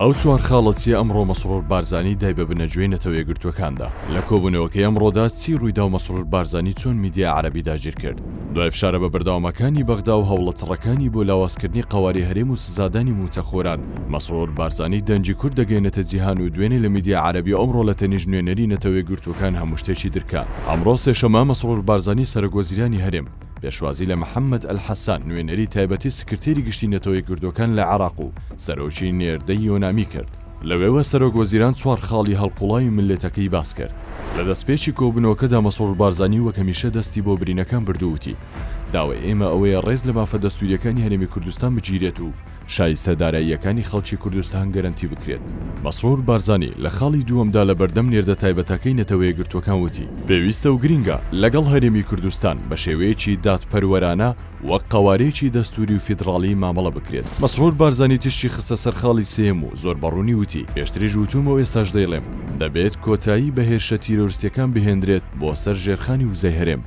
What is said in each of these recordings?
ئەو چوار خاڵە چیە ئەمڕۆ مەسرور بارزانی دای بە بنەجوێی نەتەوەیەکگرتوەکاندا؟ لە کۆبونەوەکەی ئەمڕۆدا چی رویداو مەسرور بارزانی چۆن میدیای عەرەبی داگیرکرد؟ دوای فشارە بە بەردەوامەکانی بەغداو هەوڵە چڕەکانی بۆ لاوازکردنی قەواری هەرێم و سزادانی موچەخۆران، مەسرور بارزانی دەنگی کورد دەگەینێتە جیهان و دوێنێ لە میدیای عەرەبی و ئەمڕۆ لە تەنیشت نوێنەری نەتەوەیەکگرتوەکان هەموشتێکی درکا. ئەمڕۆ سێشەمە مەسرور بارزانی سەرۆک وەزیرانی هەرێم، پێشوازی لە محەممەد ئەلحەسان، نوێنەری تایبەتی سکرتێری گشتی نەتەوە یەکگرتووەکان لە عێراق و سەرۆکی نێردەی یۆنامی کرد. لەوێوە سەرۆک وەزیران چوار خاڵی هەڵقوڵاوی مللەتەکەی باس کرد. لە دەستپێکی کۆبوونەوەکەدا مەسرور بارزانی وەک هەمیشە دەستی بۆ برینەکان برد و وتی، داوای ئێمە ئەوەیە ڕێز لە مافە دەستوورییەکانی هەرێمی کوردستان بگیرێت و شایستە داراییەکانی خەڵکی کوردستان گەرەنتی بکرێت. مەسرور بارزانی لە خاڵی دووەمدا لە بەردەم نێردە تایبەتەکەی نەتەوەیەکگرتووەکان وتی، پێویستە و گرینگە لەگەڵ هەرێمی کوردستان بە شێوەیەکی دادپەروەرانە وەک قەوارەیەکی دەستووری و فیدڕاڵی مامەڵە بکرێت. مەسرور بارزانی تیشکی خستە سەر خاڵی سێیەم و زۆر بە ڕوونی وتی، پێشتریش وتوومە و ئێستاش دەیڵێم، دەبێت کۆتایی بە هێرشە تیرۆرستییەکان بهێندرێت بۆ سەر ژێرخانی وزەی هەرێم،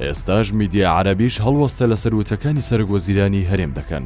ئێستاش میدیا عەرەبیش هەڵوەستە لەسەر وتەکانی سەرک وەزیرانی هەرێم دەکەن.